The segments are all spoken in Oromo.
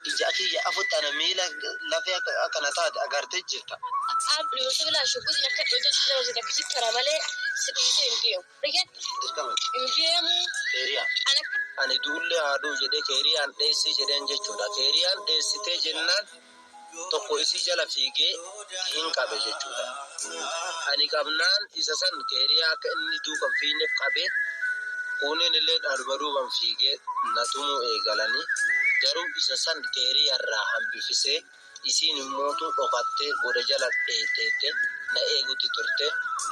ija kiyya afutti ana miila lafee akka na taate agarte jirta. Aab Nuusi bilaa shugguti lakka dhooja sila wasi takka si kara malee si dhiisee hin deemu. Rigen Dirqama. hin deemu. Keeriyaa. An akka. Ani du'ullee haa du'u jedhee keeriyaan dheessii jedheen jechuudha. Keeriyaan dheessitee jennaan. tokko isii jala fiigee hin qabe jechuudha. Ani qabnaan isa san keeriyaa akka inni duuka hin fiineef qabe, kuuniin illeen anuma duuban fiigee na tumuu eegalani. Garuu isa san keeriya irraa hambifisee isiin immootu dhokattee goda jala dheetteette na eegutti turte.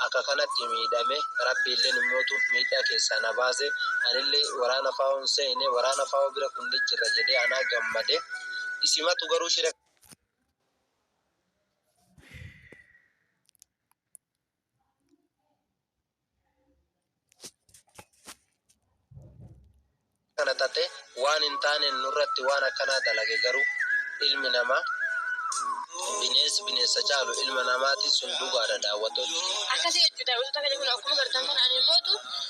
Akka kanatti miidhame. Rabbi illeen immootu miidhaa keessaa na baase. Anillee waraana FAOn seene. Waraana FAO bira kunni jirra jedhee anaa gammade. Isimatu garuu shira kana tate waan hin taane nurratti waan akkanaa dalage garuu ilmi namaa bineensi bineensa caalu ilma namaati sun dhugaadha daawwattoonni. Akkasii jechuudha. Wantoota kana kun akkuma bartan kana ani mootu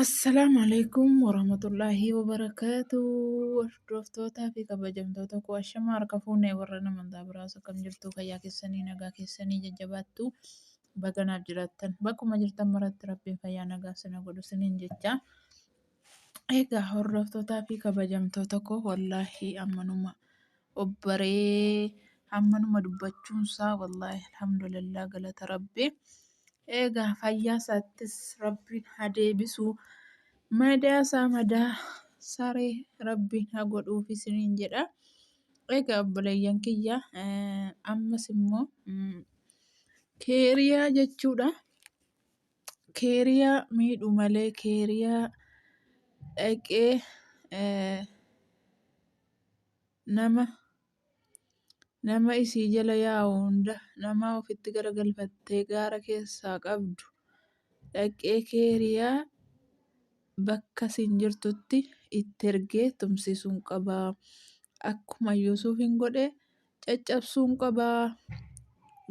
Assalaamu alaikum warahmatullaahi wabarakaatu hordoftootaa fi kabajamtoota koo ashamaa harka fuunee warra nama hundaa biraas akkam jirtu fayyaa keessanii nagaa keessanii jajjabaattu baganaaf jiraattan bakkuma jirtan maratti rabbiin fayyaa nagaa sina godhu siniin jecha Egaa hordoftootaa fi kabajamtoota koo wallaahi ammanuma obbaree ammanuma dubbachuunsaa wallaahi alhamdulillah galata rabbi. Egaa fayyaa isaattis rabbiin haa deebisu. Madaa isaa madaa saree rabbiin haa godhuuf isiniin jedha. Egaa obboleeyyan kiyya ammas immoo keeriyaa jechuudha. keeriyaa miidhu malee keeriyaa dhaqee nama nama isii jala yaa'u hunda nama ofitti garagalfattee gaara keessaa qabdu dhaqee keeriyaa bakka siin jirtutti itti ergee tumsisuun qabaa akkuma yuusuuf hin godhe caccabsuun qaba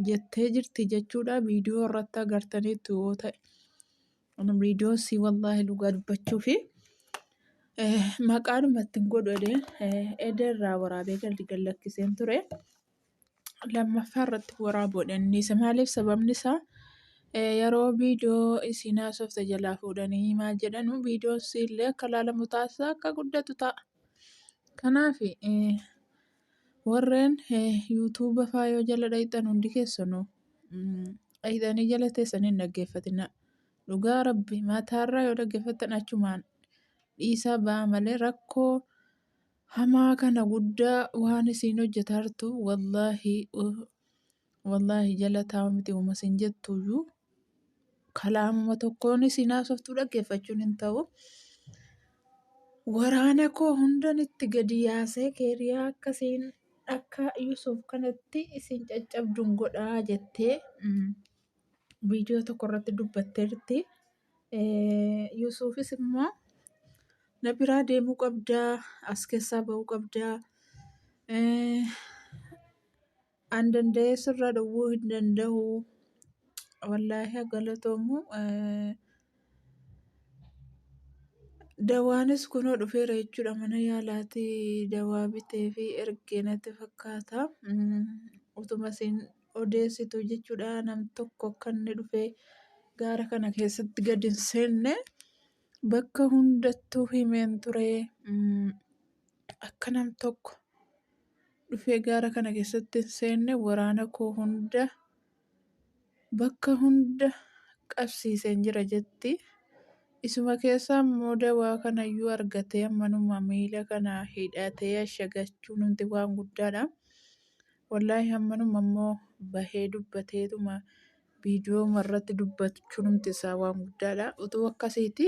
jettee jirti jechuudha viidiyoo irratti agartaniitu yoo ta'e ani viidiyoo si wallaahi dhugaa dubbachuu fi maqaan mattiin godhu edee edee irraa waraabee galdi gallakkiseen ture lammaffaa irratti waraabuudha innis maaliif sababni isaa yeroo viidiyoo isiin haasofte jalaa fuudhanii maal jedhanu viidiyoon siillee akka laalamu taasisaa akka guddatu ta'a kanaaf Warreen YouTube faayoo jala dhayxan hundi keessanuu dhayxanii jala teessanii hin dhaggeeffatinaa. Dhugaa rabbi mataarraa yoo dhaggeeffattan achumaan dhiisaa ba'a malee rakkoo hamaa kana guddaa waan isiin hojjetaa jirtu wallaahi Wallaahi jalataama miti uma sin jettuyyuu kalaamuma tokkoon isin haasoftuu dhaggeeffachuun hin ta'u. Waraana koo hundan itti gadi yaasee keeriyaa akkasiin akka Yusuuf kanatti isin caccabduun godhaa jettee mm, viidiyoo tokko irratti dubbatteerti. Eh, Yusuufis immoo na biraa deemuu qabdaa, as keessaa ba'uu qabdaa. Eh, An danda'ee sirraa dhowwuu hin danda'u. Wallaahi haa galatoomu. Dawaanis kunoo dhufeera jechuudha mana yaalaatii dawaa bitee fi ergee natti fakkaata. Utuma isin odeessitu jechuudha nam tokko akka inni dhufee gaara kana keessatti gad hin seenne. Bakka hundattuu himeen ture. Akka nam tokko dhufee gaara kana keessatti hin seenne waraana koo hunda bakka hunda qabsiiseen jira jetti. Isuma keessaa immoo dawaa kanayyuu argatee ammanuma miila kana hidhatee ashagachuu nuti waan guddaadha. Wallaahi ammanuma immoo bahee dubbateetuma viidiyooma irratti dubbachuunumti isaa waan guddaadha. Utuu akkasiiti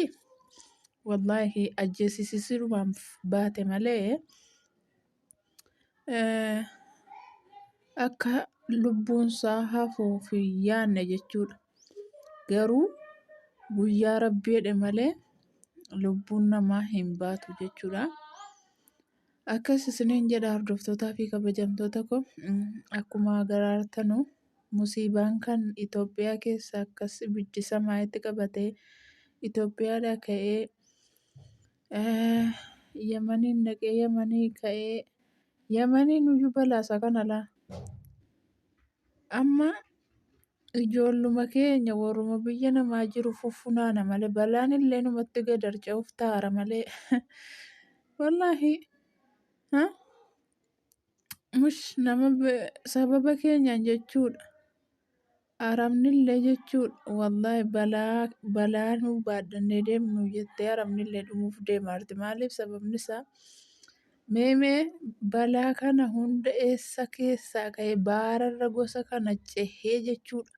wallaahi ajjeesisisirumaan baate malee eh, akka lubbuunsaa hafuuf hin yaanne jechuudha. Garuu guyyaa rabbi jedhe malee lubbuun namaa hin baatu jechuudha. Akkas isiniin jedha hordoftootaa fi kabajamtoota koo akkuma garaartanu musiibaan kan Itoophiyaa keessa akkas ibiddi samaayitti qabatee Itoophiyaadhaa ka'ee Yamaniin dhaqee Yamanii ka'ee Yamaniin iyyuu balaasaa kana laa amma Ijoolluma keenya warruma biyya namaa jiru fuffunaana malee balaan illee numatti gad harca'uuf taara malee. Wallaahi ha? mush nama be- sababa keenyaan jechuudha. Arabni illee jechuudha. Wallaahi balaa balaa nu baadhannee deemnu jettee arabni illee dhumuuf deemaarti. Maaliif sababni isaa Meme balaa kana hunda eessa keessaa ka'e baararra gosa kana cehee jechuudha.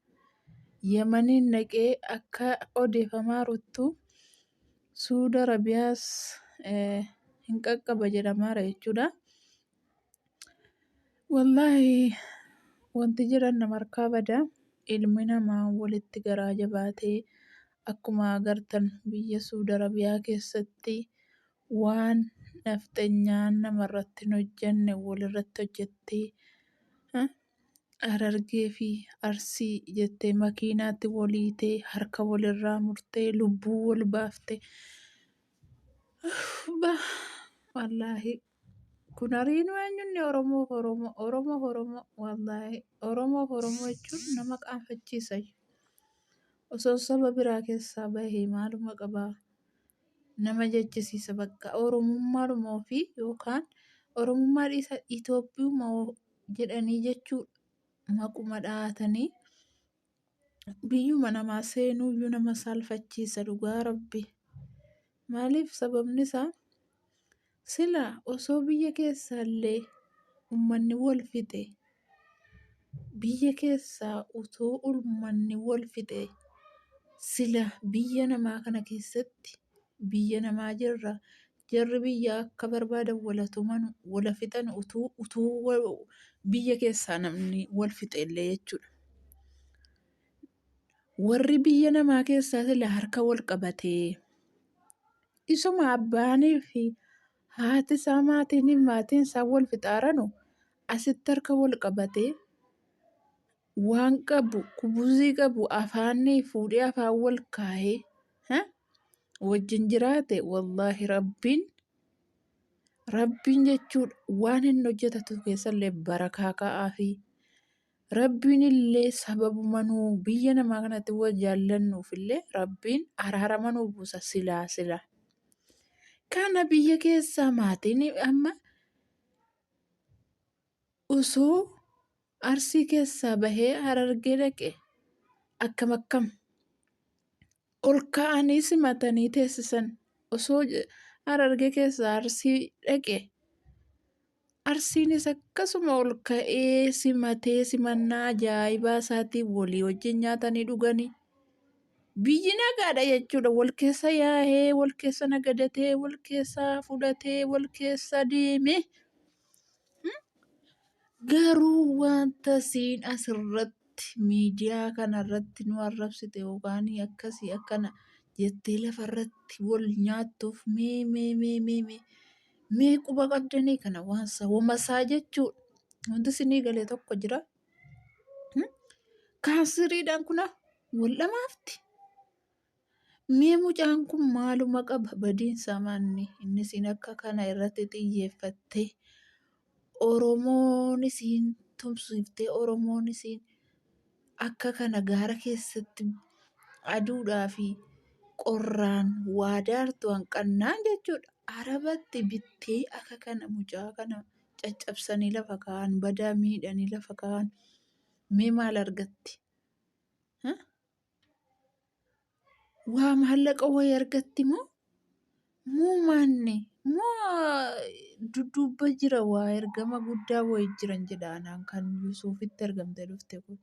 Yamaniin naqee akka odeefamaa ruttu Suud Arabiyaas hin qaqqaba jedhamaara jechuudha. Wallaahi wanti jedhan nama harkaa bada ilmi namaa walitti garaa jabaatee akkuma agartan biyya Suud Arabiyaa keessatti Waan nafxenyaan namarratti hin hojjanne walirratti hojjattee Harargee fi Arsii jettee makiinaatti wal hiitee harka walirraa murtee lubbuu wal baafte ba wallaahi kun ariinu eenyunni Oromoo Oromoo Oromoo Oromoo wallaahi Oromoo Oromoo jechuun nama qaanfachiisa osoo saba biraa keessaa bahee maaluma qabaa nama jechisiisa bakka oromummaadhuma ofii yookaan oromummaa dhiisa Itoophiyuma jedhanii jechuu maquma dhahatanii biyyuma namaa seenuuyyuu nama saalfachiisa dhugaa rabbi maaliif sababni isaa Sila osoo biyya keessaallee ummanni wal fixe biyya keessaa utuu ummanni wal fixe sila biyya namaa kana keessatti biyya namaa jirra jarri biyya akka barbaadan wala tuman wala fixan utuu utuu wa- biyya keessaa namni wal fixe illee jechuudha. Warri biyya namaa keessaa sila harka wal qabatee Isuma abbaanii fi haati isaa maatiin maatiin isaa wal fixaaranu asitti harka wal qabatee waan qabu kubuzii qabu afaanii fuudhee afaan wal kaahee ha? wajjin jiraate wallaahi rabbiin rabbiin jechuudha waan hin hojjetatu keessallee barakaa ka'aa fi Rabbiinillee sababuma nu biyya namaa kanatti wal jaallannuufillee Rabbiin araarama nu buusa silaa silaa. Kana biyya keessaa maatiin amma osoo arsii keessaa bahee harargee dhaqe akkam akkam Ol ka'anii simatanii teessisan. Osoo Harargee keessaa Arsii dhaqe Arsiinis akkasuma ol ka'ee simatee simannaa ajaa'ibaa isaatiin walii wajjin nyaatanii dhuganii biyyi nagaadha jechuudha. Wal keessa yaa'ee, wal keessa nagadatee, wal keessa fudhatee, wal keessa deemee Garuu wanta siin asirratti miidiyaa kanarratti nu arrabsite yookaan akkasii akkana jettee lafarratti wal nyaattuuf mee mee mee mee mee mee quba qabdanii kana waan sawwamasaa jechuudha. Wanti isinii galee tokko jira. Kaasiriidhaan kuna wal dhamaafti. Mee mucaan kun maaluma qaba badiinsa manni inni isiin akka kana irratti xiyyeeffattee Oromoon isiin tumsiiftee Oromoon isiin akka kana gaara keessatti aduudhaa fi qorraan waa daartu hanqannaan jechuudha. Arabatti bittee akka kana mucaa kana caccabsanii lafa kaa'an badaa miidhanii lafa kaa'an mee maal argatti? Waa maallaqa wayii argatti moo moo maanni moo dudduubba jira waa ergama guddaa wayii jiran jedha anaan kan Yuusuufitti ergamte dhufte kun.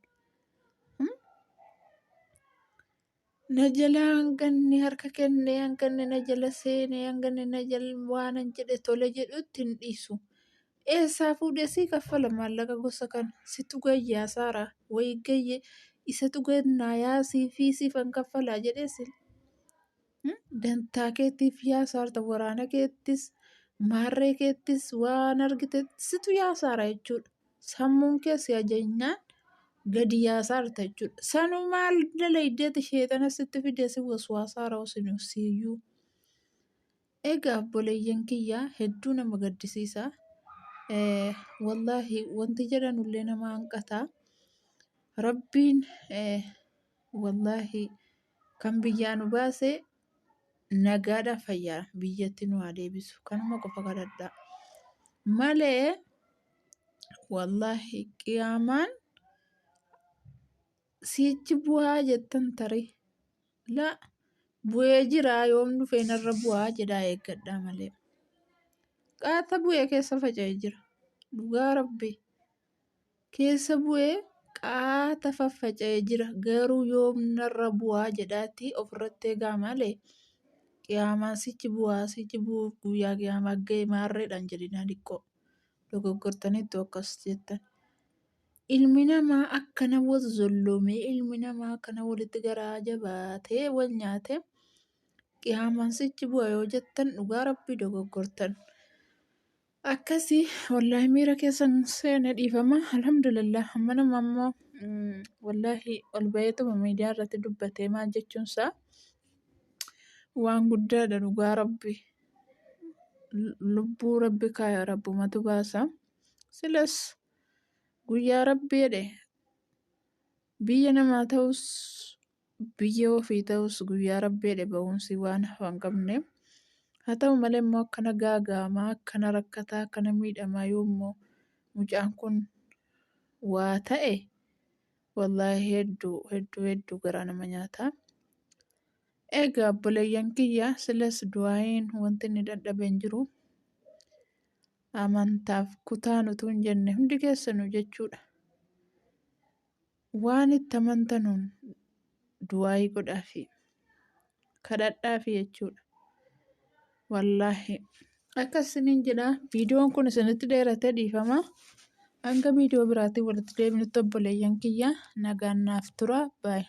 Na jala hanganni harka kenne hanganni na jala seene hanganni na jala waanan jedhe tole jedhutti hin dhiisu. Eessaa fuudhee sii kaffala maallaqa gosa kana? Situ gayyaa saaraa wayii gayyee isatu gannaa yaa siifii siifan kaffalaa jedhee si dantaa keetiif yaa saarta waraana keettis maarree keettis waan argite situ yaa saara jechuudha. Sammuun kee si ajajnaan gadi yaa saarta jechuudha. Sanuu maal dalaydeeti sheexana sitti fidee si waswaasaara osinu siyyuu. Egaa obboleeyyan kiyya hedduu nama gaddisiisa. Eh, Wallaahi wanti jedhanullee nama hanqata. Rabbiin eh, wallaahi kan biyyaa nu baase nagaadha fayyaa biyyatti nu haa deebisu. Kanuma qofa kadhadha. Malee wallaahi qiyaamaan siichi bu'aa jettan tarii. la bu'ee jiraa yoom dhufee narra bu'aa jedhaa eeggadhaa malee qaata bu'ee keessa faca'ee jira dhugaa rabbi keessa bu'ee qaata faffaca'ee jira garuu yoom narra bu'aa jedhaatti ofirratti eegaa malee qiyaamaan sichi bu'aa sichi bu'uuf guyyaa qiyaamaa ga'e maarreedhaan jedhinaa diqqoo dogoggortaniittu akkas jettan. Ilmi namaa akkana wal zolloomee ilmi namaa akkana walitti garaa jabaatee wal nyaatee qiyaamaan sichi bu'a yoo jettan dhugaa rabbii dogoggortan. Akkasii wallaahi miira keessan seena dhiifama alhamdulillah amma nama ammoo wallaahi ol baheetuma miidiyaa irratti dubbatee maal jechuun isaa waan guddaadha dhugaa rabbii. Lubbuu rabbi kaaya rabbumatu baasa. Silas. Guyyaa Rabbi jedhe biyya namaa ta'us biyya ofii ta'us guyyaa Rabbi jedhe ba'umsi waan hafan qabne. Haa ta'u malee immoo akkana gaaga'amaa akkana rakkataa akkana miidhamaa yoo immoo mucaan kun waa ta'e wallaahi hedduu hedduu hedduu garaa nama nyaata. Egaa obboleeyyan kiyya silas du'aayiin wanti inni dadhabe hin jiru. amantaaf kutaan utuu hin jenne hundi keessanuu jechuudha. Waan itti amantanuun du'aayii godhaafi. Kadhadhaafi jechuudha. Wallaahi. Akkas isiniin jedha viidiyoon kun isinitti dheerate dhiifama. Hanga viidiyoo biraatiin walitti deebinutti obboleeyyan kiyya nagaan naaf tura. Baay'ee.